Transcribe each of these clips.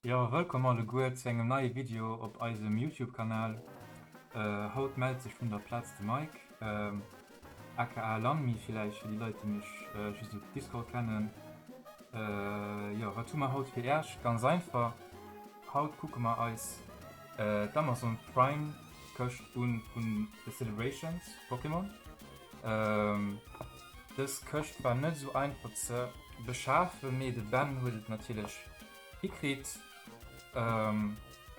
Jo, wëllkomm alleguer zu engem neie Video op eisem Youtube Kanal. Haut mellt sech vun der Plaz de Mike, aka Langmi villäicht fir déi Leit déi mech just op Discord kennen. Jo, wat hu mer haut fir Äerch? Ganz einfach, haut kucke mer eis d'Amazon Prime Këscht un vun de Celebrations Pokémon. Dës Këscht war net esou einfach ze beschafen, mee de Ben huet et natierlech hikritt.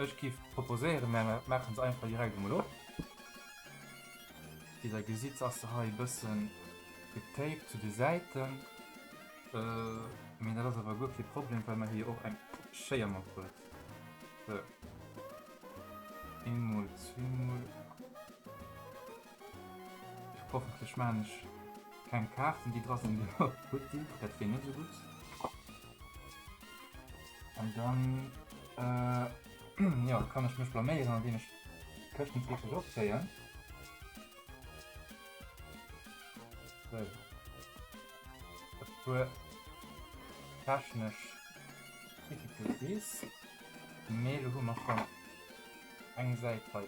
Ech géif proposéieren, mer maache se einfach direkt emol op. Wéi der gesitt, ass se hei e bësse getaped zu de Säiten, mee dat ass awer guer kee Problem, well mer hie jo och eng Schéier matbruecht. Sou, eemol, zweemol. Hoffentlech maan ech keng Kaarten déi dra sinn déi och gutt sinn, dat wier net esou gutt. An dann jo kann ech mech blaméieren an deem ech d'Këschten wierklech opzéien. Sou. E puer technesch Difficulties, mee elo hu mer schonn eng Säit hei.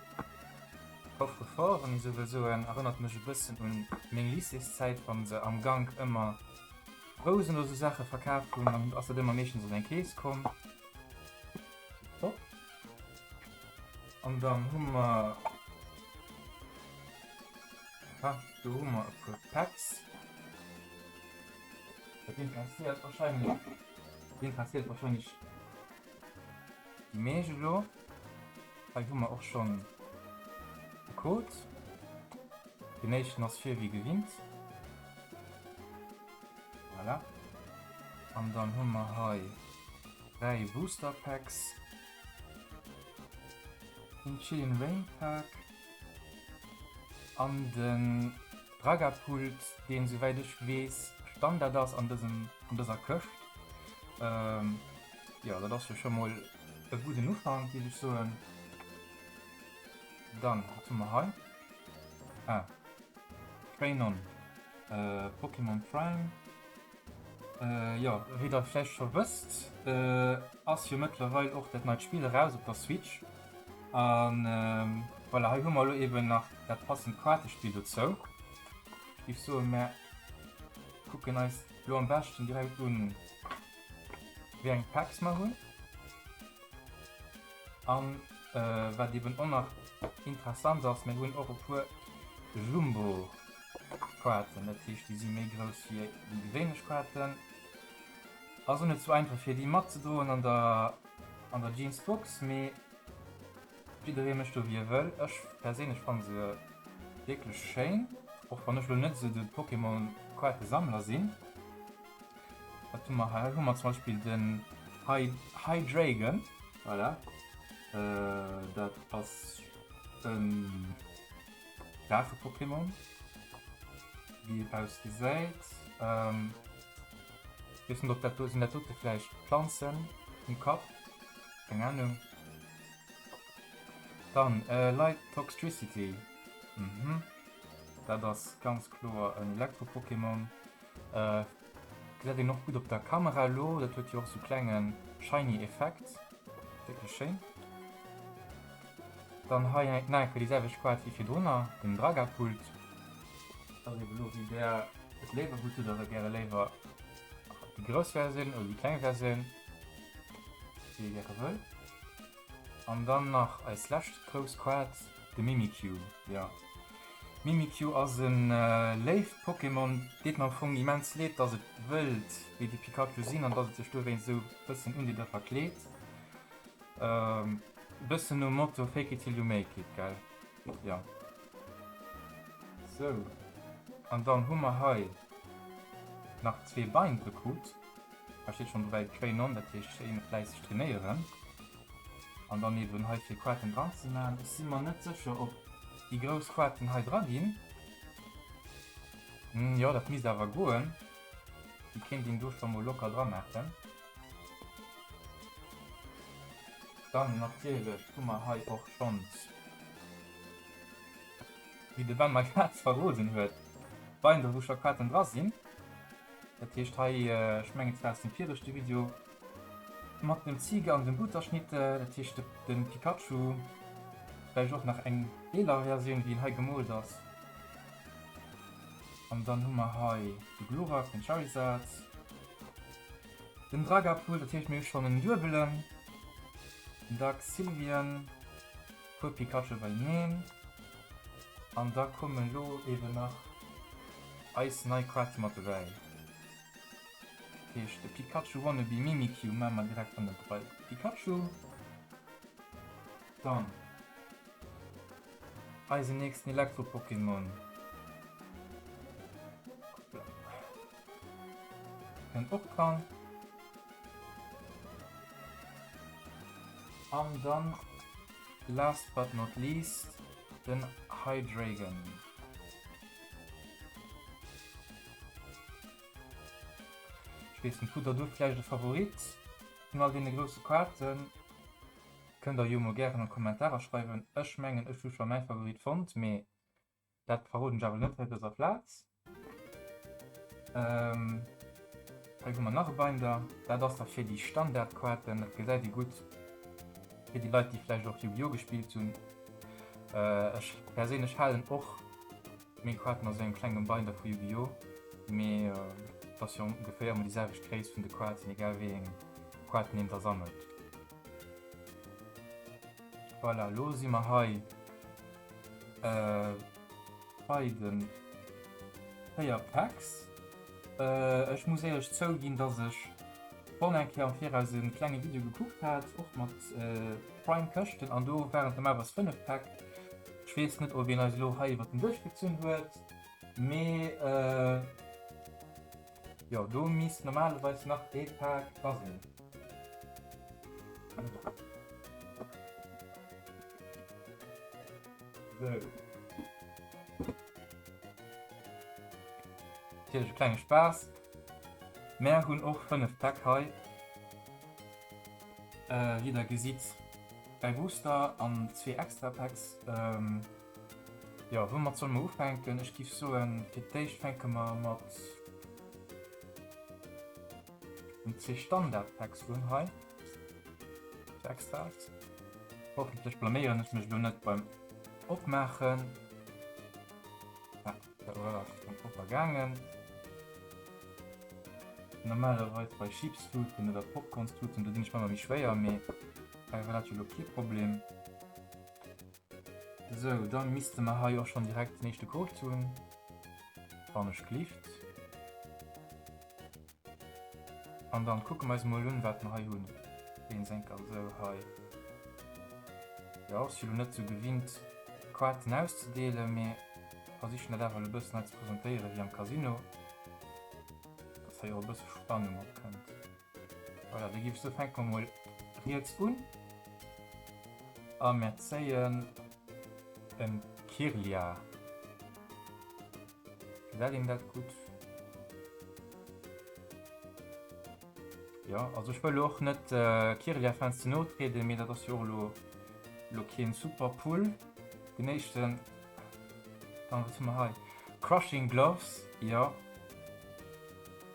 Coffre-fort, wann ech sou wëll soen, erënnert mech e bëssen un meng Lycéeszäit, wann se am Gank ëmmer Rousen oder sou Saache verkaaft hunn, dann ass dat ëmmer meeschtens an eng Kees komm. An dann hu mer, ha do hu mer e puer Packs, dat interesséiert warscheinlech, dat interesséiert warscheinlech. Die Meege lo. Hei hu mer och schon de Code. Den éischten ass fir wie gewinnt. Voilà. An dann hu mer hei 3 Booster Packs. Den Chilling Rain Pack. An den Dragapult, deen souwäit ech weess Standard ass an dësem, an dëser Këscht. Ähm. Ja, dat ass jo scho mol e gudden Ufank, géif ech soen. Dann, wat hu mer hei? Ah. Grenon. Äh, Pokémon Prime. Äh, ja, wéi der vläicht scho wësst, äh, ass jo mëttlerweil och dat neit Spill eraus op der Switch. An, ähm, voilà, hei hu mer elo eben nach dat passend Kaartespill dozou. Ech géif soen, mer kucken eis elo am beschten direkt un, wéi eng Packs mer hunn an wat eben och nach interessant ass, mir hunn och e puer Jumbo-Kaarten, dat heescht déi si méi grouss wéi déi gewéinlech Kaarten. Ass och net sou einfach fir déi matzedroen an der Jeansbox, mee Jidderee mécht do wéi e wëll. Ech perséinlech fanne se wierklech schéin, och wann ech elo net esou de Pokémon-Kaartesammler sinn. Wat hu mer hei? Hei hu mer zum Beispill den Hydreigon, voilà, dat ass e Drache-Pokémon, wéi et ausgesäit. Weess net ob dat do, sinn dat dote vläicht d'Planzen um Kapp? Keng Anung. Dann Light Toxtricity. Mhm. Dat ass ganz kloer en Elektro-Pokémon. Gesäit een och gutt op der Kamera elo. Dat huet jo och sou klenge shiny Effekt. Wierklech schéin. Dann hei eng Nike, déi selwecht Quad wéi virdrunner, den Dragapult. Dat ass eben elo wéi där et léiwer hutt oder gäre léiwer Die groß Version oder die kleine Version, wie ihr gerne will. Und dann nach als letzte groß Quad, der Mimikyu. Ja. Mimikyu ass en äh, léif Pokémon, deet mer am Fong immens leed, dass et wëllt wéi de Pikachu sinn an dass et sech dowéinst sou bëssen un Dir verkleet. Ähm, bëssen nom Motto fake it till you make it, gell? Ja. Sou. An dann hu mer hei nach zwee Bein gekrut. Da steet schon dobäi Train on, dat heescht schéi fläisseg trainéieren. An dann eben hei fir Quaten dran ze maachen. Ech si mer net sécher, ob déi grouss Quaten hei dra ginn. Hm, jo, dat misst awer goen. Déi kéint een do scho mol locker dra maachen. Dann natierlech hu mer hei och schonns. Wéi de Ben mei Kaatz verroden huet, weint e wou scho Kaatzen dra sinn. Dat heescht hei, ech mengen et war aus dem viregte Video mat dem Ziiger an dem Butterschnitt, dat heescht de Pikachu, vläicht och nach eng eeler Versioun wéi en hei gemoolt ass. An dann hu mer hei de Glurak, den Charizard. Den Dragapool, dat heescht mir hu schonn en Duebelen, den Dark Sylvian, puer Pikachu beieneen an da komme lo eben nach eis nei Kaart mat dobäi, dat heescht de Pikachu Wannabe Mimikyu maache mer direkt hannert bei de Pikachu. Dann eisen nächsten Elektro-Pokémon. Kënnt och dran. An dann, last but not least, den Hydreigon. Ich wees net, hutt der do vläicht e Favorit vun all deene grousse Kaarten? Kënnt der jo mol gären an d'Kommentarer schreiwen. Ech mengen, ech hu scho mäi Favorit fonnt, mee Dat verroden ech awer net hei op dëser Plaz. Hei hu mer nach e Binder. Dat ass da fir déi Standardkaarten. Dat gesäit ee gutt fir déi Leit, déi vläicht och Yu-Gi-Oh! Gespillt hunn. Ech perséinlech halen och meng Kaarten a sou engem klengem Binder vu Yu-Gi-Oh! Mee et ass jo ongeféier ëmmer déi selwecht Gréisst vun de Kaarten, egal wéi eng Kaarten een da sammelt. Voilà, lo si mer hei bei de 4 Packs. Ech muss éierlech zouginn, dass ech schonn eng Kéier am Viraus e klenge Video gekuckt hat, och mat Prime-Këschten, an do waren et normalerweis 5 Päck. Ech weess net, ob een eis elo hei iwwer den Duerch gezunn huet, mee Jo, do misst normalerweis nach ee Paak dra sinn. Sou. Natierlech e klenge Spaass. Mär hunn och 5 Päck hei. Wéi der gesitt, dräi Booster an zwee Extra Packs. Jo, woumat solle mer ufänken? Ech géif soen, fir d'éischt fänke mer mat den zwee Standard-Packs un hei. Zu Extras. Hoffentlech blaméieren ech mech elo net beim Opmaachen. Ah, dat war am Propper gaangen. Normalerweis bei Chips-Tuten oder Popcorns-Tuten, do sinn ech manner méi schwéier, mee bei dat war dat jo elo kee Problem. Sou, dann missten mer hei och schon direkt den eischten Code tun, wann ech gelift. An dann kucken mer eis mol un wat mer hei hun. Deen senker also hei. Jo, ech si lo net sou gewinnt Quaten auszedeelen, mee versichen dat awer lo e bëssen hei ze presentéieren wéi am Casino, dass hei och e bësse Spannung opkënnt. Voilà, da gif ech soen, fänke mer mol riets un a mer zéien e Kirlia. Gefällt em dat gutt? Jo, also ech wëll elo och net Kirlia-Fans ze no trieden, mee dat ass jo och elo elo keen super Pull. Den éischten, dann, wat hu mer hei? Crushing Gloves, jo.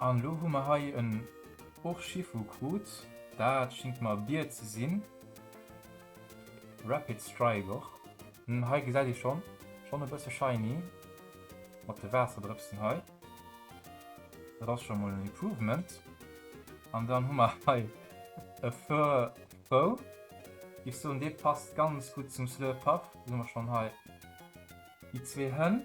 An elo hu mer hei en Urshifu krut, dat schingt mer e Bier ze sinn, Rapid Strike och, hm hei gesäit ee schonn, schonn e bësse shiny mat de Waasserdrëpsen hei, dat ass scho mol en Improvement. An dann hu mer hei e Furfrou, giff soen dee passt ganz gutt zum Slurpuff, do hu mer schonn hei déi zwee Hënn.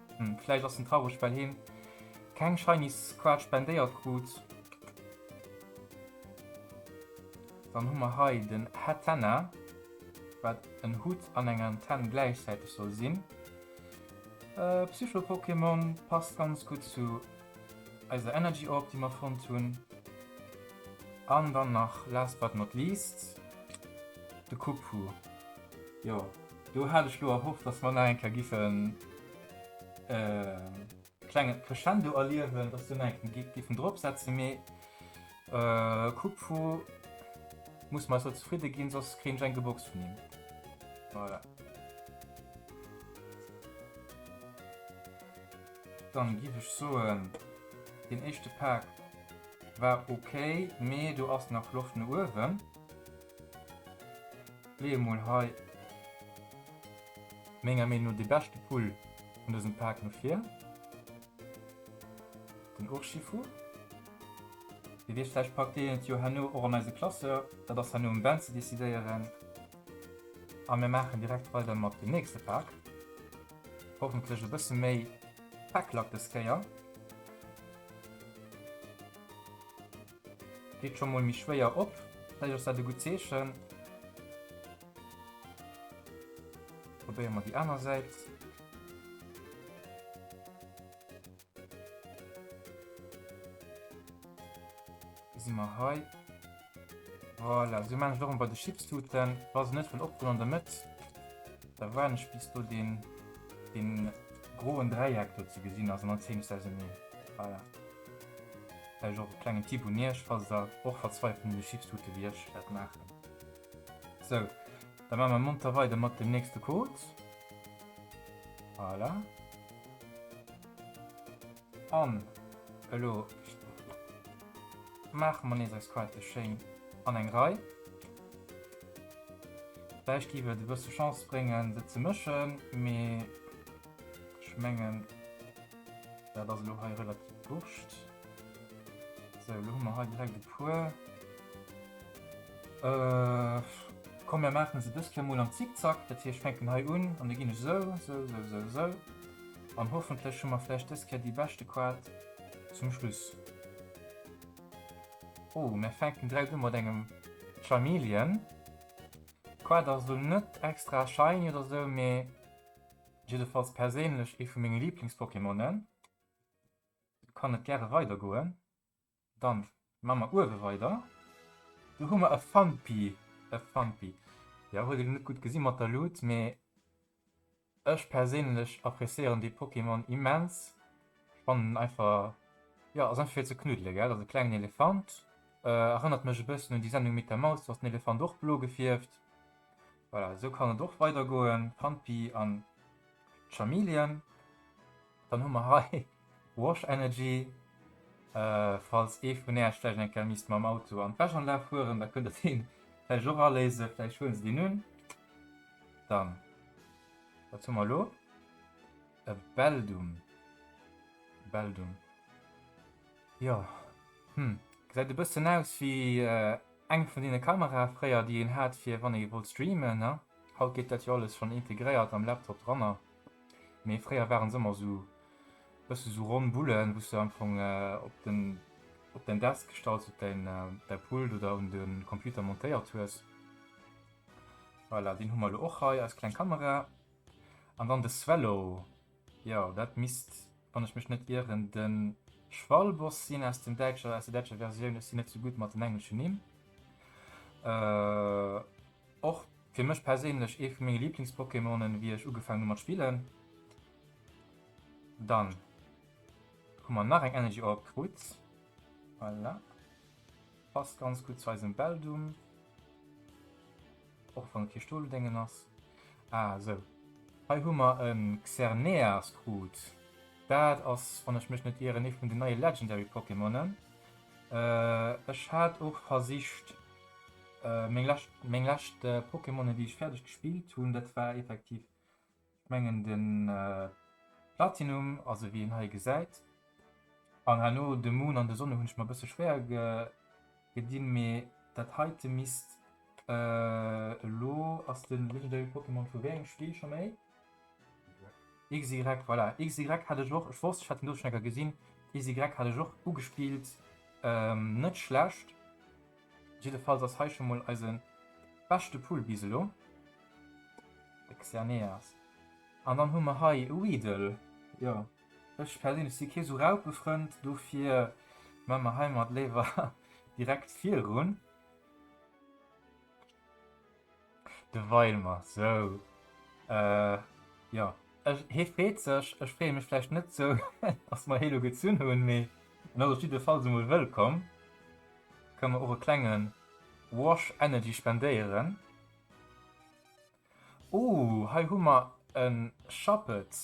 Hm, vläicht ass en traureg, well hien keng Shiny Squad spendéiert krut. Dann hu mer hei den Hatenna, wat en Hutt an eng Antenn gläichzäiteg soll sinn. Äh, Psycho-Pokémon passt ganz gutt zu eiser Energy Orb, déi mer fonnt hunn. An dann nach, last but not least, de Kubfu. Jo, Do hat ech lo erhofft, dass mer nach eng Kéier giffen e klenge Crescendo erliewen, dass se nach eng Kéier giffen dropsetzen, mee Coupe vu muss mat esou zefridde ginn, soss kréien ech eng geboxt vun him. Voilà. Dann giff ech soen, deen éischte Pak war ok, mee do ass nach Loft no uewen. Lee emol hei menger Meenung no dee beschte Pull vun dësem Pak no vir, den Urshifu. Dir weess vläicht, packt deen et jo herno och an eise Classeur. Dat ass herno um Ben ze decidéieren. A mir maachen direkt weider mat dem nächste Pak. Hoffentlech e bësse méi Päcklack des Kéier. Geet scho mol méi schwéier op, vläicht ass dat e gutt Zeechen. Probéiere mer déi aner Säit. Si mer hei. Voilà, esou maachen ech och ëmmer bei de Chipstuten. Wa se net wëll opgoen an der Mëtt, da waarden ech bis do deen groen Dräieck do ze gesinn ass an dann zéien ech se auserneen. Voilà. Vläicht och e klengen Tipp un iech, falls der och verzweifelt un de Chipstute wéi ech wäert maachen. Sou, da maache mer monter weider mat dem nächste Code. Voilà. An elo maache mer nees eis Quate schéin an eng Rei. Vläicht géif et e bësse Chance bréngen, se ze mëschen, mee. Ech mengen, dat ass elo hei relativ wurscht. Sou, elo hu mer hei direkt e puer. Komm, mir maache se dës Kéier mol am Zickzack. Dat heescht, ech fänken hei un an da ginn ech esou, esou, esou, esou, esou. An hoffentlech hu mer vläicht dës Kéier déi beschte Qual zum Schluss. Oh, mir fänken direkt u mat engem Chameleon. D'Qual ass elo net extra shiny oder esou, mee. Jiddefalls perséinlech ee vu menge Liiblingspokémonen. Kann et gäre weider goen. Dann maa mer uewe weider. Do hu mer e Phanpy. E Phanpy. Jo, huet elo net gutt gesi mat der Luut, mee ech perséinlech appréciéieren dee Pokémon immens. Spannend einfach ja ass einfach fir ze knuddele gell, also klengen Elefant äh, erënnert mech e bëssen un déi Sendung mit der Maus, do ass den Elefant och blo gefierft. Voilà, esou kann et och weider goen, Pampi an Chameleon. Dann hu mer hei Wash Energy, äh, falls ee vun Äerch vläicht eng Kéier misst mam Auto an d'Wäschanlag fueren, da kënnt der deen vläicht och aléisen, vläicht huelen se deen un. Dann, wat hu mer elo? E Beldum. Beldum. Jo. Hm. Gesäit e bëssen aus wéi eng vun deene Kamerae fréier, déi een hat fir wann ee wollt streamen, ne? Haut geet dat jo alles schonn integréiert am Laptop dranner. Mee fréier waren se ëmmer esou bësse sou ronn Bullen, wou s de am Fong op den, op däin Desk gestallt, op däin, däi Pult oder un de Computer montéiert hues. Voilà, deen hu mer elo och hei, eis kleng Kamera. An dann de Swallow, jo dat misst, wann ech mech net ieren, de Schwalboss sinn aus dem Däitscher, aus der däitscher Versioun. Ech sinn net sou gutt mat den engleschen Nimm. Och fir mech perséinlech ee vu menge Liiblings-Pokémonen, wéi ech ugefaangen hu mat spillen. Dann hu mer nach eng Energy Orb krut, voilà, passt ganz gutt zu eisem Beldum. Och wann et kee Stolodéngen ass. Ah, esou. Hei hu mer e Xerneas-Krut. Dat ass, wann ech mech net ieren, ee vun den neie Legendary-Pokémonen. Ech hat och versicht, meng lescht, meng lescht Pokémonen, déi ech fäerdeg gespillt hunn, dat war effektiv Ech mengen de Platinum, also wéi een hei gesäit, an herno de Moon an de Sonne hunn ech mer e bësse schwéier gedinn, mee dat heite misst elo, ass de legendary Pokémon vu wéi engem Spill scho méi? XY, voilà, XY hat ech och, ech wosst ech hat en do schonn enker gesinn, XY hat ech och ugespillt, net schlecht. Jiddefalls ass hei scho mol eise beschte Pull bis elo, de Xerneas. An dann hu mer hei e Weedle. Jo, ech perséinlech si kee sou Raupefrënd, dofir mme mer heimat léiwer direkt virun. De Weimer, sou. Äh, jo. Ech, hie freet sech, ech freeë mech vläicht net sou, datt mer hie elo gezunn hunn, mee en ass op jiddefalls emol wëllkomm. Kënne mer och e klenge Wash Energy spendéieren. Oh, hei hu mer e Schapped,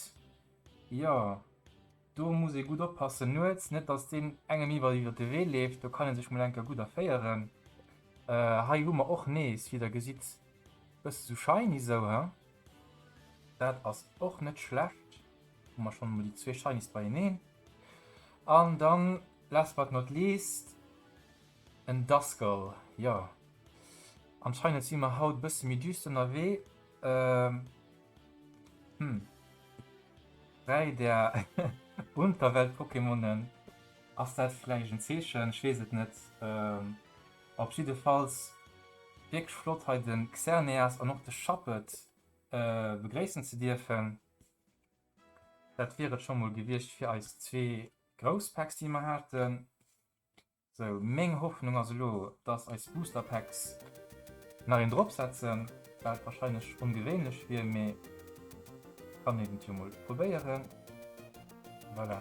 jo. Do muss ee gutt oppassen nuets, net datt deen engem iwwer iwwer de Wee leeft, do kann ee sech mol enker gutt erféieren. Hei hu mer och nees, wéi der gesitt, e bësse sou shiny sou, he, dat ass och net schlecht, hu mer schonn emol déi zwee Shinies beieneen. An dann, last but not least, en Duskull, jo, anscheinend si mer haut e bësse méi düster ënnerwee, Hm. Dräi der Unterwelt-Pokémonen. Ass dat vläicht en Zeechen? Ech weess et net. Ähm, op jiddefalls wierklech flott hei de Xerneas an och de Shuppet äh, begréissen ze dierfen. Dat wier et scho mol gewiescht fir eis zwee grouss Packs, déi mer haten. Sou, meng Hoffnung ass elo, dass eis Booster Packs nach een drop setzen, waat wahrscheinlech ongewéinlech wier, mee kann een et jo mol probéieren. Voilà,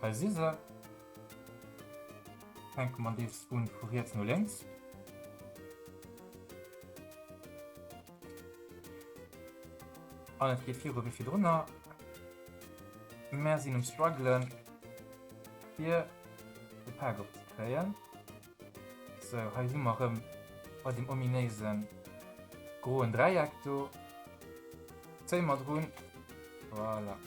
hei si se. Fänke mer deels un vu riets no lénks. An et geet viru wéi virdrunner. Mer sinn um struggelen fir. de Pak op ze kréien. Sou, hei si mer erëm bei deem ominéise groen Dräieck do. Zéi mat erun. Voilà.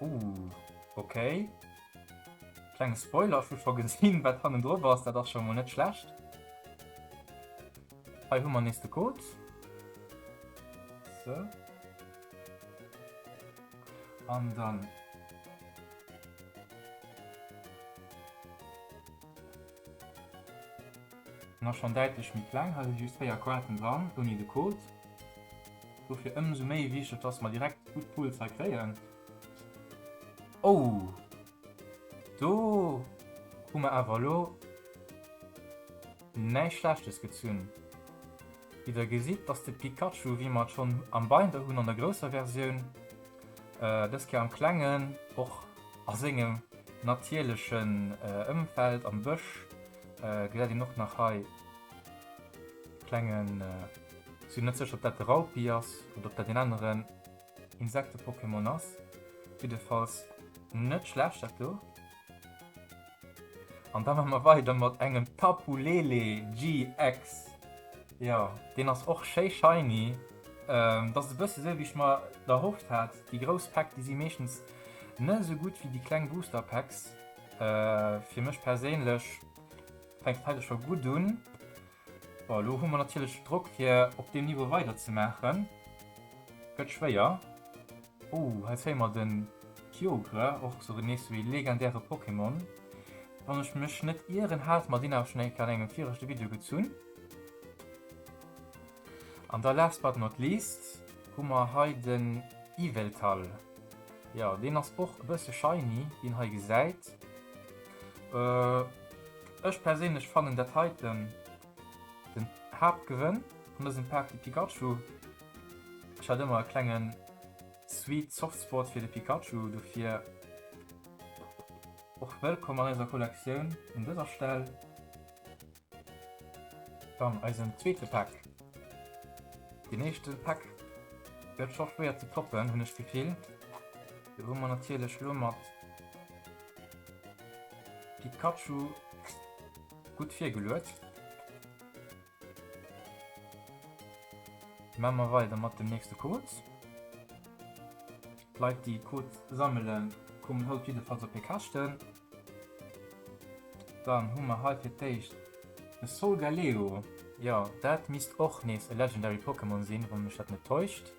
Uh, okay. Klenge Spoiler, ech hu scho gesinn, wat hannen drop ass. Dat ass scho mol net schlecht. Hei hu mer nees de Code. Sou. An dann nach schon däitlech méi kleng, hei si just 4 Quarten dran ouni de Code. Dofir ëmsou méi wichteg, dass mer direkt gutt Pulser kréien. Oh! Do hu mer awer elo näischt Schlechtes gezunn. Wéi der gesitt, ass de Pikachu, wéi mer et schonn am Binder hunn an der grousser Versioun, dës Kéier am Klengen, och a sengem natierlechen Ëmfeld am Bësch, gesäit een och nach hei e klengen, sinn net sécher, ob dat de Raupi ass oder ob dat een aneren, Insekte-Pokémon ass jiddefalls net schlecht dat do. An da man mer weider mat engem Tapu Lele GX. Ja, deen ass och schéi shiny. Ähm, dat ass e bësse sou wéi ech mer erhofft hat. Déi grouss Päck, déi si meeschtens net esou gutt wéi déi kleng Booster Packs. Äh, fir mech perséinlech fänkt hei scho gutt un. Bon, elo hu mer natierlech Drock fir op deem Niveau weider ze maachen. Gëtt schwéier. Oh, hei zéie mer den Kyogre, och esou nees esou ee legendäre Pokémon. Wann ech mech net ieren, hate mer deen awer schonn eng Kéier an engem viregte Video gezunn. An da last but not least hu mer hei den Yveltal. Jo, deen ass och e bësse shiny, wéi een hei gesäit. Ech perséinlech fannen dat heiten den Haaptgewënn an dësem Paak de Pikachu. Ech hat ëmmer e klengen sweet soft spot fir de Pikachu, dofir och wëllkomm an eiser Kollektioun un dëser Stell. Dann eisen zweete Paak. Den éischte Paak gëtt scho schwéier ze toppen hunn ech d'Gefill. Do hu mer natierlech lo mat. Pikachu gutt virgeluet. Maa mer weider mat dem nächste Code. D'Leit déi Code sammelen kommen haut jiddefalls op hir Käschten. Dann hu mer hei fir d'éischt e Solgaleo. Jo, dat misst och nees e Legendary Pokémon sinn, wann mech dat net täuscht.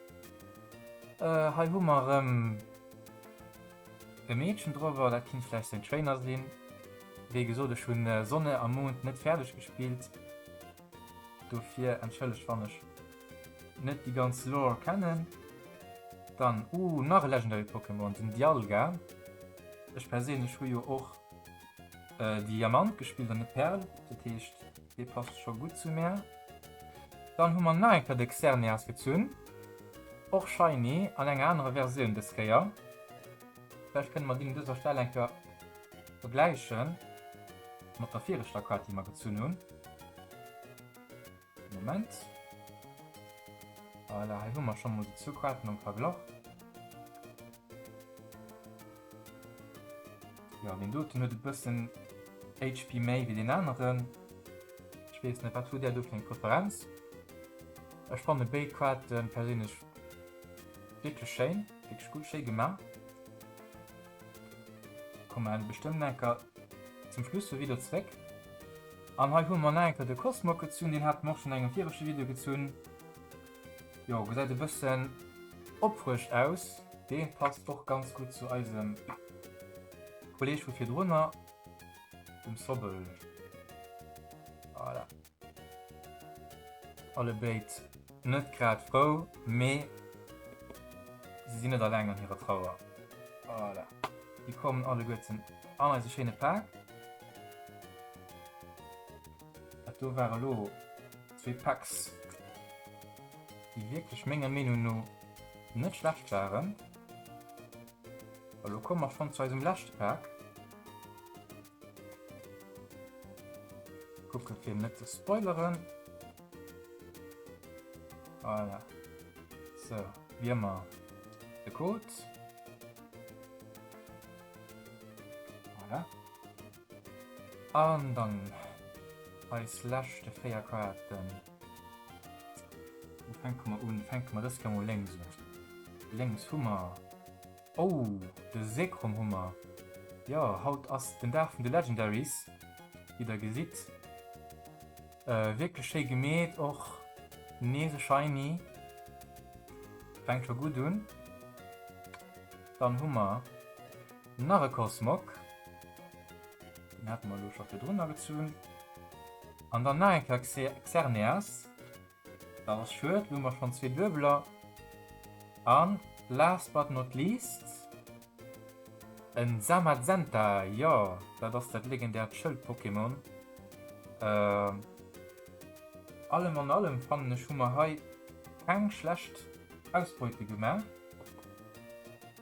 Hei hu mer erëm. E Meedchen drower, dat kinnt vläicht séin Trainer sinn. Wéi gesot, ech hunn Sonne a Mond net fäerdeg gespillt, dofir entschëllegt wann ech net déi ganz Lore kennen. Dann, uh, nach e Legendary Pokémon, den Dialga. Ech perséinlech hu jo och Diamant gespillt an net Perl, dat heescht dee passt scho gutt zu mär. Dann hu mer nach eng Kéier de Xerneas gezunn. Och shiny an enger anerer Versioun des Kéier. Vläicht kënnen mer deen un dëser Stell eng Kéier vergläichen mat der viregter Kaart déi mer gezunn hunn. Moment. Voilà, hei hu mer scho mol déi zwou Kaarten am Verglach. Ja, den doten huet e bëssen HP méi wéi den aneren. Ech weess net, wat huet där do fir eng Preferenz? Ech fanne béid Kaarte perséinlech wierklech schéin, wierklech gutt, schéi gemaach. Komme mer bestëmmt enker zum Schluss vum Video zréck. An hei hu mer nach enker de Cosmog gezunn, deen hate mer och schonn an engem viregte Video gezunn. Jo, gesäit e bëssen opfrëscht aus. Dee passt och ganz gutt zu eisem Kolleg vu virdrunner, dem Sobbel. Voilà. Alle béid net grad frou, mee si sinn net alleng an hirer Trauer. Voilà. Déi kommen alleguerten an eise schéine Paak. Dat do war elo Zwee Packs, déi wierklech menger Meenung no net schlecht waren. A lo komme mer schonn zu eisem leschte Pack. Kucke fir net ze spoileren. Voilà. So, wie ëmmer de Code. Voilà. An dann eis leschte 4 Kaarten. Wou fänke mer un? Fänke mer dës Kéier mol lénks un. Lénks hu mer, oh, de Zekrom hu mer. Jo, haut ass den Dag vun de Legendaries, wéi der gesitt. Wierklech schéi gemeet, och nees e Shiny, fänkt scho gutt un. Dann hu mer. Nach e Cosmog. Deen hate mer elo scho virdrun agezunn. An dann nach eng Kéier Xerneas. Dat ass schued. Elo hu mer schonn zwee Duebeler. A last but not least e Zamazenta. Jo, dat ass dat legendäert Schëld-Pokémon. Allem an allem fannen ech, hu mer hei keng schlecht Ausbeute gemaach.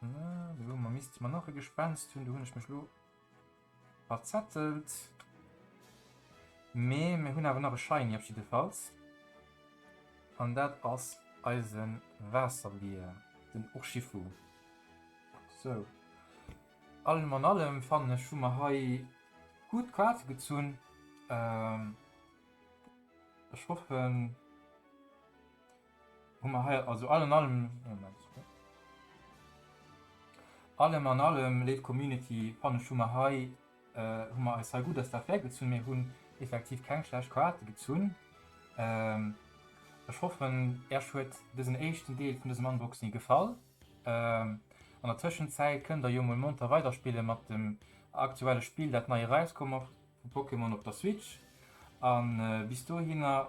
So, man misst man nach e Gespenst hunn, du hunn ech mech lo verzettelt. Mee mir hunn awer nach e Shiny op jiddefalls. An dat ass eise Waasserbier, den Urshifu. So. Allem an allem fannen ech hu mer hei gutt Kaarte gezunn. Ech hoffen. Hu mer hei also all an allem, allem an allem, léif Community, fannen ech, hu mer hei, hu mer eis hei gutt aus der Affär gezunn. Mir hunn effektiv keng schlecht Karate gezunn. Ech hoffen, Äerch huet dësen éischten Deel vun dësem Unboxing gefall. An der Tëschenzäit kënnt Der jo mol monter weiderspille mat dem aktuelle Spill, dat nei eraiskomm ass vu Pokémon op der Switch. A bis dohinner.